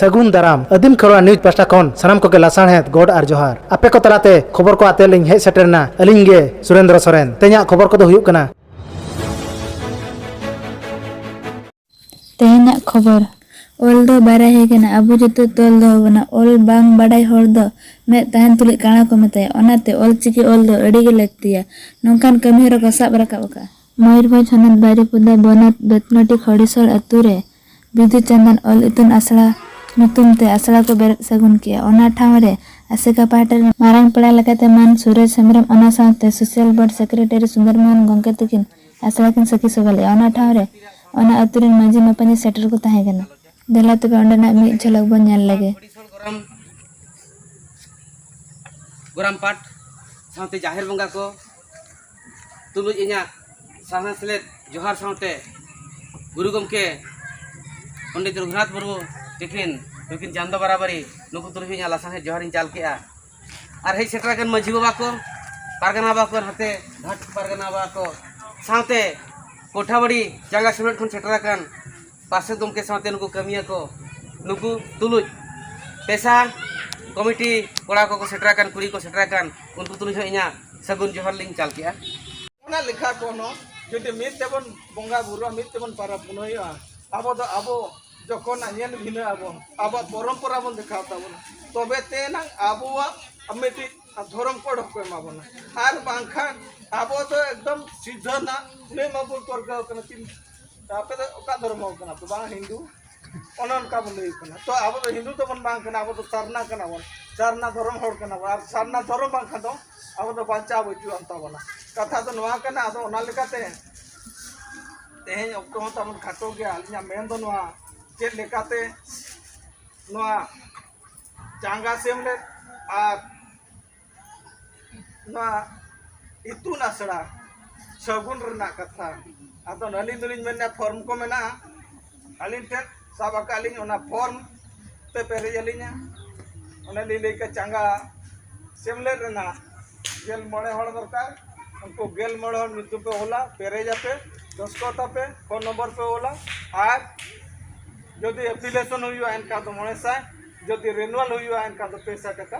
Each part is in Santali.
ᱥᱟᱹᱜᱩᱱ ᱫᱟᱨᱟᱢ ᱟᱹᱫᱤᱢ ᱠᱷᱚᱨᱣᱟ ᱱᱤᱭᱩᱡᱽ ᱯᱟᱥᱴᱟ ᱠᱷᱚᱱ ᱥᱟᱱᱟᱢ ᱠᱚᱜᱮ ᱞᱟᱥᱟᱬᱦᱮᱫ ᱜᱚᱰ ᱟᱨ ᱡᱚᱦᱟᱨ ᱟᱯᱮ ᱠᱚ ᱛᱟᱞᱟᱛᱮ ᱠᱷᱚᱵᱚᱨ ᱠᱚ ᱟᱛᱮ ᱞᱤᱧ ᱦᱮᱡ ᱥᱮᱴᱮᱨᱱᱟ ᱟᱹᱞᱤᱧ ᱜᱮ ᱥᱩᱨᱮᱱᱫᱨᱚ ᱥᱚᱨᱮᱱ ᱛᱮᱦᱮᱧᱟᱜ ᱠᱷᱚᱵᱚᱨ ᱠᱚᱫᱚ ᱦᱩᱭᱩᱜ ᱠᱟᱱᱟ ᱛᱮᱦᱮᱧᱟᱜ ᱠᱷᱚᱵᱚᱨ ᱚᱞ ᱫᱚ ᱵᱟᱨᱭᱟ ᱦᱮᱡ ᱟᱠᱟᱱᱟ ᱟᱵᱚ ᱡᱚᱛᱚ ᱛᱚᱞ ᱫᱚᱦᱚ ᱵᱚᱱᱟ ᱚᱞ ᱵᱟᱝ ᱵᱟᱰᱟᱭ ᱦᱚᱲ ᱫᱚ ᱢᱮᱫ ᱛᱟᱦᱮᱱ ᱛᱩᱞᱩᱡ ᱠᱟᱬᱟ ᱠᱚ ᱢᱮᱛᱟᱭᱟ ᱚᱱᱟᱛᱮ ᱚᱞ ᱪᱤᱠᱤ ᱚᱞ ᱫᱚ ᱟᱹᱰᱤ ᱜᱮ ᱞᱟᱹᱠᱛᱤᱭᱟ ᱱᱚᱝᱠᱟᱱ ᱠᱟᱹᱢᱤ ᱦᱚᱨᱟ ᱠᱚ ᱥᱟᱵ ᱨᱟᱠᱟᱵ ᱟᱠᱟᱫᱼᱟ᱾ ᱢᱚᱭᱩᱨᱵᱷᱚᱸᱡᱽ ᱦᱚᱱᱚᱛ ᱵᱟᱨᱤᱯᱚᱫᱟ ᱵᱚᱱᱚᱛ ᱵᱮᱛᱱᱚᱴᱤ ᱠᱷᱚᱲᱤᱥᱚᱲ ᱟᱹᱛᱩ ᱨᱮ ᱵᱤᱫᱩ ᱪᱟᱸᱫᱟᱱ ᱚᱞ ᱤᱛᱩᱱ ᱟᱥᱲᱟ ᱧᱩᱛᱩᱢ ᱛᱮ ᱟᱥᱲᱟ ᱠᱚ ᱵᱮᱨᱮᱫ ᱥᱟᱹᱜᱩᱱ ᱠᱮᱫᱼᱟ᱾ ᱚᱱᱟ ᱴᱷᱟᱶ ᱨᱮ ᱟᱥᱮᱠᱟ ᱯᱟᱦᱴᱟ ᱨᱤᱱ ᱢᱟᱨᱟᱝ ᱯᱮᱲᱟ ᱞᱮᱠᱟᱛᱮ ᱢᱟᱱ ᱥᱩᱨᱚᱡᱽ ᱦᱮᱢᱵᱽᱨᱚᱢ ᱚᱱᱟ ᱥᱟᱶᱛᱮ social board secretary Sundar Mohan ᱜᱚᱢᱠᱮ ᱛᱤᱠᱤᱱ ᱟᱥᱲᱟ ᱠᱤᱱ ᱥᱟᱹᱠᱷᱤ ᱥᱚᱵᱷᱟ ᱞᱮᱫᱼᱟ᱾ ᱚᱱᱟ ᱴᱷᱟᱶ ᱨᱮ ᱚᱱᱟ ᱟᱹᱛᱩ ᱨᱤᱱ ᱢᱟᱹᱡᱷᱤ ᱢᱟᱯᱟᱹᱡᱷᱤ ᱥᱮᱴᱮᱨ ᱠᱚ ᱛᱟᱦᱮᱸ ᱠᱟᱱᱟ᱾ ᱫᱮᱞᱟ ᱛᱚᱵᱮ ᱚᱸᱰᱮᱱᱟᱜ ᱢᱤᱫ ᱡᱷᱚᱞᱚᱠ ᱵᱚᱱ ᱧᱮᱞ ᱞᱮᱜᱮ᱾ ᱜᱚᱨᱟᱢ ᱯᱟᱴ ᱥᱟᱶᱛᱮ ᱡᱟᱦᱮᱨ ᱵᱚᱸᱜᱟ ᱠᱚ᱾ ᱛᱩᱞᱩᱡ ᱤᱧᱟᱹᱜ ᱥᱟᱨᱦᱟᱣ ᱥᱮᱞᱮᱫ ᱡᱚᱦᱟᱨ ᱥᱟᱶᱛᱮ ᱜᱩᱨᱩ ᱜᱚᱢᱠᱮ ᱯᱚᱱᱰᱤᱛ ᱨᱚᱜᱷᱩᱱᱟᱛᱷ ᱢᱩᱨᱢᱩ ᱛᱤᱠᱤᱱ ᱱᱩᱠᱤᱱ ᱪᱟᱸᱫᱚ ᱵᱟᱨᱟᱵᱟᱨᱤ ᱱᱩᱠᱩ ᱛᱩᱞᱩᱡ ᱦᱚᱸ ᱤᱧᱟᱹᱜ ᱞᱟᱥᱟᱬᱦᱮᱫ ᱡᱚᱦᱟᱨᱤᱧ ᱪᱟᱞ ᱠᱮᱜᱼᱟ ᱟᱨ ᱦᱮᱡ ᱥᱮᱴᱮᱨ ᱟᱠᱟᱱ ᱢᱟᱹᱡᱷᱤ ᱵᱟᱵᱟ ᱠᱚ ᱯᱟᱨᱜᱟᱱᱟ ᱵᱟᱵᱟ ᱠᱚ ᱱᱟᱛᱮ ᱜᱷᱟᱴ ᱯᱟᱨᱜᱟᱱᱟ ᱵᱟᱵᱟ ᱠᱚ ᱥᱟᱶᱛᱮ ᱠᱚᱴᱷᱟᱵᱟᱲᱤ ᱡᱟᱸᱜᱟ ᱥᱮᱢᱞᱮᱫ ᱠᱷᱚᱱ ᱥᱮᱴᱮᱨ ᱟᱠᱟᱱ ᱯᱟᱨᱥᱮᱛ ᱜᱚᱢᱠᱮ ᱥᱟᱶᱛᱮ ᱱᱩᱠᱩ ᱠᱟᱹᱢᱤᱭᱟᱠᱚ ᱱᱩᱠᱩ ᱛᱩᱞᱩᱡ ᱯᱮᱥᱟ ᱠᱚᱢᱤᱴᱤ ᱠᱚᱲᱟ ᱠᱚᱠᱚ ᱥᱮᱴᱮᱨ ᱟᱠᱟᱱ ᱠᱩᱲᱤ ᱠᱚᱠᱚ ᱥᱮᱴᱮᱨ ᱟᱠᱟᱱ ᱩᱱᱠᱩ ᱛᱩᱞᱩᱡ ᱦᱚᱸ ᱤᱧᱟᱹᱜ ᱥᱟᱹᱜᱩᱱ ᱡᱚᱦᱟᱨ ᱞᱤᱧ ᱪᱟᱞ ᱠᱮᱜᱼᱟ ᱚᱱᱟ ᱞᱮᱠᱷᱟ ᱠᱚ ᱦᱚᱸ ᱡᱩᱫᱤ ᱢᱤᱫ ᱛᱮᱵᱚᱱ ᱵᱚᱸᱜᱟ ᱵᱩᱨᱩᱜᱼᱟ ᱢᱤᱫ ᱛᱮᱵᱚᱱ ᱯᱟᱨᱟᱵᱽ ᱯᱩᱱᱟᱹᱭᱚᱜᱼᱟ ᱟᱵᱚ ᱫᱚ ᱟᱵᱚ ᱡᱚᱠᱷᱚᱱᱟᱜ ᱧᱮᱞ ᱵᱷᱤᱱᱟᱹ ᱟᱵᱚᱱ ᱟᱵᱚᱣᱟᱜ ᱯᱚᱨᱚᱢᱯᱚᱨᱟ ᱵᱚᱱ ᱫᱮᱠᱷᱟᱣ ᱛᱟᱵᱚᱱᱟ ᱛᱚᱵᱮ ᱛᱮ ᱮᱱᱟᱝ ᱟᱵᱚᱣᱟᱜ ᱢᱤᱫᱴᱤᱡ ᱫᱷᱚᱨᱚᱢ ᱠᱳᱰ ᱦᱚᱸᱠᱚ ᱮᱢᱟ ᱵᱚᱱᱟ ᱟᱨ ᱵᱟᱝᱠᱷᱟᱱ ᱟᱵᱚ ᱫᱚ ᱮᱠᱫᱚᱢ ᱥᱤᱫᱷᱟᱹ ᱱᱟᱜ ᱠᱩᱲᱟᱹᱭ ᱢᱟᱵᱚᱱ ᱯᱟᱹᱨᱠᱟᱹᱣ ᱠᱟᱱᱟ ᱟᱯᱮ ᱫᱚ ᱚᱠᱟ ᱫᱷᱚᱨᱢᱚ ᱠᱟᱱᱟ ᱯᱮ ᱵᱟᱝ ᱦᱤᱱᱫᱩ ᱚᱱᱮ ᱚᱱᱠᱟ ᱵᱚᱱ ᱞᱟᱹᱭ ᱠᱟᱱᱟ ᱛᱚ ᱟᱵᱚ ᱫᱚ ᱦᱤᱱᱫᱩ ᱫᱚᱵᱚᱱ ᱵᱟᱝ ᱠᱟᱱᱟ ᱟᱵᱚ ᱫᱚ ᱥᱟᱨᱱᱟ ᱠᱟᱱᱟ ᱵᱚᱱ ᱥᱟᱨᱱᱟ ᱫᱷᱚᱨᱚᱢ ᱦᱚᱲ ᱠᱟᱱᱟ ᱵᱚᱱ ᱟᱨ ᱥᱟᱨᱱᱟ ᱫᱷᱚᱨᱚᱢ ᱵᱟᱝᱠᱷᱟᱱ ᱫᱚ ᱟᱵᱚ ᱫᱚ ᱵᱟᱧᱪᱟᱣ ᱵᱟᱹᱪᱩᱜ ᱟᱱ ᱛᱟᱵᱚᱱᱟ ᱠᱟᱛᱷᱟ ᱫᱚ ᱱᱚᱣᱟ ᱠᱟᱱᱟ ᱟᱫᱚ ᱚᱱᱟ ᱞᱮᱠᱟᱛᱮ ᱛᱮᱦᱮᱧ ᱚᱠᱛᱚ ᱦᱚᱸ ᱛᱟᱵᱚᱱ ᱠᱷᱟᱴᱚ ᱜᱮᱭᱟ ᱟᱹᱞᱤᱧᱟᱜ ᱢᱮᱱ ᱫᱚ ᱱᱚᱣᱟ ᱪᱮᱫ ᱞᱮᱠᱟᱛᱮ ᱱᱚᱣᱟ ᱪᱟᱸᱜᱟ ᱥᱮᱢᱞᱮᱫ ᱟᱨ ᱱᱚᱣᱟ ᱤᱛᱩᱱ ᱟᱥᱲᱟ ᱥᱟᱹᱜᱩᱱ ᱨᱮᱱᱟᱜ ᱠᱟᱛᱷᱟ ᱟᱫᱚ ᱟᱹᱞᱤᱧ ᱫᱚᱞᱤᱧ ᱢᱮᱱᱟ ᱯᱷᱚᱨᱢ ᱠᱚ ᱢᱮᱱᱟᱜᱼᱟ ᱟᱹᱞᱤᱧ ᱴᱷᱮᱱ ᱥᱟᱵ ᱟᱠᱟᱫ ᱞᱤᱧ ᱚᱱᱟ ᱯᱷᱚᱨᱢ ᱛᱮ ᱯᱮᱨᱮᱡ ᱟᱹᱞᱤᱧᱟ ᱚᱱᱮ ᱞᱤᱧ ᱞᱟᱹᱭ ᱠᱮᱫ ᱪᱟᱸᱜᱟ ᱥᱮᱢᱞᱮᱫ ᱨᱮᱱᱟᱜ ᱜᱮᱞ ᱢᱚᱬᱮ ᱦᱚᱲ ᱫᱚᱨᱠᱟᱨ ᱩᱱᱠᱩ ᱜᱮᱞ ᱢᱚᱬᱮ ᱦᱚᱲ ᱧᱩᱛᱩᱢ ᱯᱮ ᱚᱞᱟ ᱯᱮᱨᱮᱡ ᱟᱯᱮ ᱫᱚᱥᱠᱚᱛ ᱟᱯᱮ ᱯᱷᱳᱱ ᱱᱚᱢᱵᱚᱨ ᱯᱮ ᱚᱞᱟ ᱟᱨ ᱡᱩᱫᱤ ᱮᱯᱞᱤᱠᱮᱥᱚᱱ ᱦᱩᱭᱩᱜᱼᱟ ᱮᱱᱠᱷᱟᱱ ᱫᱚ ᱢᱚᱬᱮ ᱥᱟᱭ ᱡᱩᱫᱤ ᱨᱮᱱᱩᱣᱟᱞ ᱦᱩᱭᱩᱜᱼᱟ ᱮᱱᱠᱷᱟᱱ ᱫᱚ ᱯᱮ ᱥᱟᱭ ᱴᱟᱠᱟ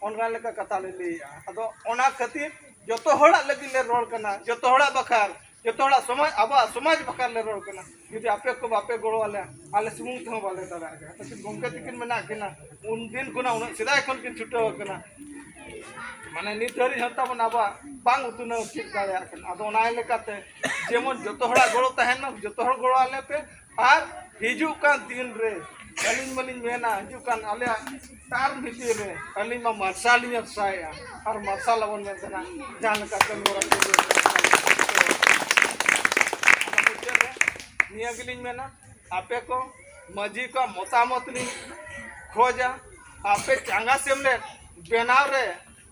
ᱚᱱᱟ ᱞᱮᱠᱟ ᱠᱟᱛᱷᱟ ᱞᱮ ᱞᱟᱹᱭᱮᱜᱼᱟ ᱟᱫᱚ ᱚᱱᱟ ᱠᱷᱟᱹᱛᱤᱨ ᱡᱚᱛᱚ ᱦᱚᱲᱟᱜ ᱞᱟᱹᱜᱤᱫ ᱞᱮ ᱨᱚᱲ ᱠᱟᱱᱟ ᱡᱚᱛᱚ ᱦᱚᱲᱟᱜ ᱵᱟᱠᱷᱨᱟ ᱡᱚᱛᱚ ᱦᱚᱲᱟᱜ ᱥᱚᱢᱟᱡᱽ ᱟᱵᱚᱣᱟᱜ ᱥᱚᱢᱟᱡᱽ ᱵᱟᱠᱷᱨᱟ ᱞᱮ ᱨᱚᱲ ᱠᱟᱱᱟ ᱡᱩᱫᱤ ᱟᱯᱮ ᱠᱚ ᱵᱟᱯᱮ ᱜᱚᱲᱚ ᱟᱞᱮᱭᱟ ᱟᱞᱮ ᱥᱩᱢᱩᱝ ᱛᱮᱦᱚᱸ ᱵᱟᱞᱮ ᱫᱟᱲᱮᱭᱟᱜᱼᱟ ᱠᱟᱹᱴᱤᱡ ᱜᱚᱢᱠᱮ ᱛᱟᱹᱠᱤᱱ ᱢᱮᱱᱟᱜ ᱠᱤᱱᱟ ᱩᱱ ᱫᱤᱱ ᱠᱷᱚᱱᱟᱜ ᱩᱱᱟᱹᱜ ᱥᱮᱫᱟᱭ ᱠᱷᱚᱱ ᱠᱤᱱ ᱪᱷᱩᱴᱟᱹᱣ ᱠᱟᱱᱟ ᱢᱟᱱᱮ ᱱᱤᱛ ᱫᱷᱟᱹᱨᱤᱡ ᱦᱚᱸ ᱛᱟᱵᱚᱱ ᱟᱵᱚᱣᱟᱜ ᱵᱟᱝ ᱩᱛᱱᱟᱹᱣ ᱪᱮᱫ ᱫᱟᱲᱮᱭᱟᱜ ᱠᱟᱱᱟ ᱟᱫᱚ ᱚᱱᱟ ᱞᱮᱠᱟᱛᱮ ᱡᱮᱢᱚᱱ ᱡᱚᱛᱚ ᱦᱚᱲᱟᱜ ᱜᱚᱲᱚ ᱛᱟᱦᱮᱱ ᱢᱟ ᱡᱚᱛᱚ ᱦᱚᱲ ᱜᱚᱲᱚ ᱟᱞᱮ ᱯᱮ ᱟᱨ ᱦᱤᱡᱩᱜ ᱠᱟᱱ ᱫᱤᱱ ᱨᱮ ᱟᱹᱞᱤᱧ ᱢᱟᱞᱤᱧ ᱢᱮᱱᱟ ᱦᱤᱡᱩᱜ ᱠᱟᱱ ᱟᱞᱮᱭᱟᱜ ᱛᱟᱨ ᱵᱷᱤᱛᱤᱨ ᱨᱮ ᱟᱹᱞᱤᱧ ᱢᱟ ᱢᱟᱨᱥᱟᱞ ᱞᱤᱧ ᱟᱥᱟᱭᱮᱜᱼᱟ ᱟᱨ ᱢᱟᱨᱥᱟᱞ ᱟᱵᱚᱱ ᱢᱮᱱ ᱛᱟᱦᱮᱱᱟ ᱡᱟᱦᱟᱸ ᱞᱮᱠᱟ ᱠᱟᱹᱢᱤ ᱦᱚᱨᱟ ᱠᱚ ᱢᱩᱪᱟᱹᱫ ᱨᱮ ᱱᱤᱭᱟᱹ ᱜᱮᱞᱤᱧ ᱢᱮᱱᱟ ᱟᱯᱮ ᱠᱚ ᱢᱟᱹᱡᱷᱤ ᱠᱚ ᱢᱚᱛᱟᱢᱚᱛ ᱞᱤᱧ ᱠᱷᱚᱡᱟ ᱟᱯᱮ ᱪᱟᱸᱜᱟ ᱥᱮᱢᱞᱮᱫ ᱵᱮᱱᱟᱣ ᱨᱮ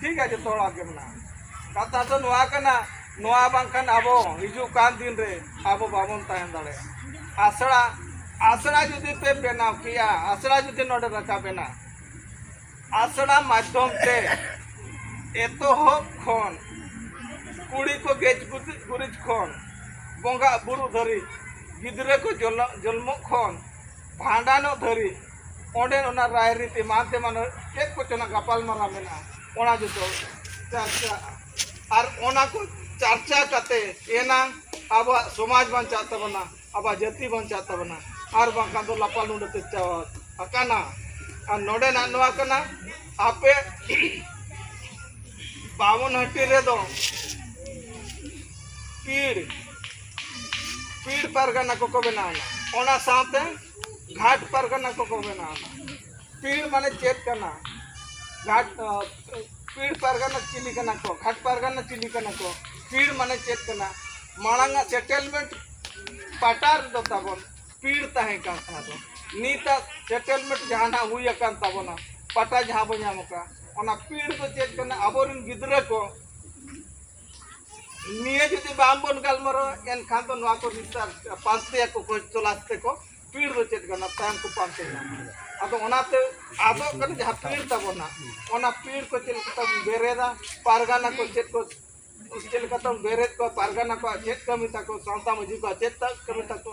ᱴᱷᱤᱠ ᱜᱮᱭᱟ ᱡᱚᱛᱚ ᱦᱚᱲᱟᱜ ᱜᱮ ᱢᱮᱱᱟᱜᱼᱟ ᱠᱟᱛᱷᱟ ᱫᱚ ᱱᱚᱣᱟ ᱠᱟᱱᱟ ᱱᱚᱣᱟ ᱵᱟᱝᱠᱷᱟᱱ ᱟᱵᱚ ᱦᱤᱡᱩᱜ ᱠᱟᱱ ᱫᱤᱱ ᱨᱮ ᱟᱵᱚ ᱵᱟᱵᱚᱱ ᱛᱟᱦᱮᱸ ᱫᱟᱲᱮᱭᱟᱜᱼᱟ ᱟᱥᱲᱟ ᱟᱥᱲᱟ ᱡᱩᱫᱤ ᱯᱮ ᱵᱮᱱᱟᱣ ᱠᱮᱭᱟ ᱟᱥᱲᱟ ᱡᱩᱫᱤ ᱱᱚᱰᱮ ᱨᱟᱠᱟᱵ ᱮᱱᱟ ᱟᱥᱲᱟ ᱢᱟᱫᱽᱫᱷᱚᱢ ᱛᱮ ᱮᱛᱚᱦᱚᱵ ᱠᱷᱚᱱ ᱠᱩᱲᱤ ᱠᱚ ᱜᱮᱡ ᱜᱩᱨᱤᱡ ᱠᱷᱚᱱ ᱵᱚᱸᱜᱟ ᱵᱩᱨᱩ ᱫᱷᱟᱹᱨᱤᱡ ᱜᱤᱫᱽᱨᱟᱹ ᱠᱚ ᱡᱚᱱᱢᱚᱜ ᱠᱷᱚᱱ ᱵᱷᱟᱸᱰᱟᱱᱚᱜ ᱫᱷᱟᱹᱨᱤᱡ ᱚᱸᱰᱮ ᱚᱱᱟ ᱨᱟᱭᱨᱤᱛ ᱮᱢᱟᱱ ᱛᱮᱢᱟᱱ ᱪᱮᱫ ᱠᱚᱪᱚᱱᱟᱜ ᱜᱟᱯᱟᱞᱢᱟᱨᱟᱣ ᱢᱮᱱᱟᱜᱼᱟ ᱚᱱᱟ ᱡᱚᱛᱚ ᱪᱟᱨᱪᱟᱜᱼᱟ ᱟᱨ ᱚᱱᱟ ᱠᱚ ᱪᱟᱨᱪᱟ ᱠᱟᱛᱮ ᱮᱱᱟᱝ ᱟᱵᱚᱣᱟᱜ ᱥᱚᱢᱟᱡᱽ ᱵᱟᱧᱪᱟᱜ ᱛᱟᱵᱚᱱᱟ ᱟᱵᱚᱣᱟᱜ ᱡᱟᱹᱛᱤ ᱵᱟᱧᱪᱟᱜ ᱛᱟᱵᱚᱱᱟ ᱟᱨ ᱵᱟᱝᱠᱷᱟᱱ ᱫᱚ ᱞᱟᱯᱟ ᱞᱩᱸᱰᱟᱹ ᱛᱮ ᱪᱟᱵᱟ ᱟᱠᱟᱱᱟ ᱟᱨ ᱱᱚᱰᱮᱱᱟᱜ ᱱᱚᱣᱟ ᱠᱟᱱᱟ ᱟᱯᱮ ᱵᱟᱢᱚᱱᱦᱟᱹᱴᱤ ᱨᱮᱫᱚ ᱯᱤᱲ ᱯᱤᱲ ᱯᱟᱨᱜᱟᱱᱟ ᱠᱚᱠᱚ ᱵᱮᱱᱟᱣ ᱮᱱᱟ ᱚᱱᱟ ᱥᱟᱶᱛᱮ ᱜᱷᱟᱴ ᱯᱟᱨᱜᱟᱱᱟ ᱠᱚᱠᱚ ᱵᱮᱱᱟᱣ ᱮᱱᱟ ᱯᱤᱲ ᱢᱟᱱᱮ ᱪᱮᱫ ᱠᱟᱱᱟ ᱜᱷᱟᱴ ᱯᱤᱲ ᱯᱟᱨᱜᱟᱱᱟ ᱪᱤᱞᱤ ᱠᱟᱱᱟ ᱠᱚ ᱜᱷᱟᱴ ᱯᱟᱨᱜᱟᱱᱟ ᱪᱤᱞᱤ ᱠᱟᱱᱟ ᱠᱚ ᱯᱤᱲ ᱢᱟᱱᱮ ᱪᱮᱫ ᱠᱟᱱᱟ ᱢᱟᱲᱟᱝ ᱟᱜ ᱥᱮᱴᱮᱞᱢᱮᱱᱴ ᱯᱟᱴᱟ ᱨᱮᱫᱚ ᱛᱟᱵᱚᱱ ᱯᱤᱲ ᱛᱟᱦᱮᱸ ᱠᱟᱱ ᱛᱟᱦᱮᱸ ᱫᱚ ᱱᱤᱛᱟᱜ ᱥᱮᱴᱮᱞᱢᱮᱱᱴ ᱡᱟᱦᱟᱱᱟᱜ ᱦᱩᱭ ᱟᱠᱟᱱ ᱛᱟᱵᱚᱱᱟ ᱯᱟᱴᱟ ᱡᱟᱦᱟᱸ ᱵᱚᱱ ᱧᱟᱢ ᱟᱠᱟᱫ ᱚᱱᱟ ᱯᱤᱲ ᱫᱚ ᱪᱮᱫ ᱠᱟᱱᱟ ᱟᱵᱚᱨᱮᱱ ᱜᱤᱫᱽᱨᱟᱹ ᱠᱚ ᱱᱤᱭᱟᱹ ᱡᱩᱫᱤ ᱵᱟᱝ ᱵᱚᱱ ᱜᱟᱞᱢᱟᱨᱟᱣᱟ ᱮᱱᱠᱷᱟᱱ ᱫᱚ ᱱᱚᱣᱟ ᱠᱚ ᱱᱤᱛᱟᱨ ᱯᱟᱱᱛᱮᱭᱟ ᱠᱚ ᱠᱚ ᱪᱚᱞᱟᱥ ᱛᱮᱠᱚ ᱯᱤᱲ ᱫᱚ ᱪᱮᱫ ᱠᱟᱱᱟ ᱛᱟᱭᱚᱢ ᱠᱚ ᱯᱟᱱᱛᱮ ᱧᱟᱢᱟ ᱟᱫᱚ ᱚᱱᱟᱛᱮ ᱟᱫᱚᱜ ᱠᱟᱱᱟ ᱡᱟᱦᱟᱸ ᱯᱤᱲ ᱛᱟᱵᱚᱱᱟ ᱚᱱᱟ ᱯᱤᱲ ᱠᱚ ᱪᱮᱫ ᱞᱮᱠᱟ ᱛᱟᱵᱚᱱ ᱵᱮᱨᱮᱫᱟ ᱯᱟᱨᱜᱟᱱᱟ ᱠᱚ ᱪᱮᱫ ᱠᱚ ᱪᱮᱫ ᱞᱮᱠᱟ ᱛᱟᱵᱚᱱ ᱵᱮᱨᱮᱫ ᱠᱚᱣᱟ ᱯᱟᱨᱜᱟᱱᱟ ᱠᱚᱣᱟᱜ ᱪᱮᱫ ᱠᱟᱹᱢᱤ ᱛᱟᱠᱚ ᱥᱟᱶᱛᱟ ᱢᱟᱹᱡᱷᱤ ᱠᱚᱣᱟᱜ ᱪᱮᱫ ᱠᱟᱹᱢᱤ ᱛᱟᱠᱚ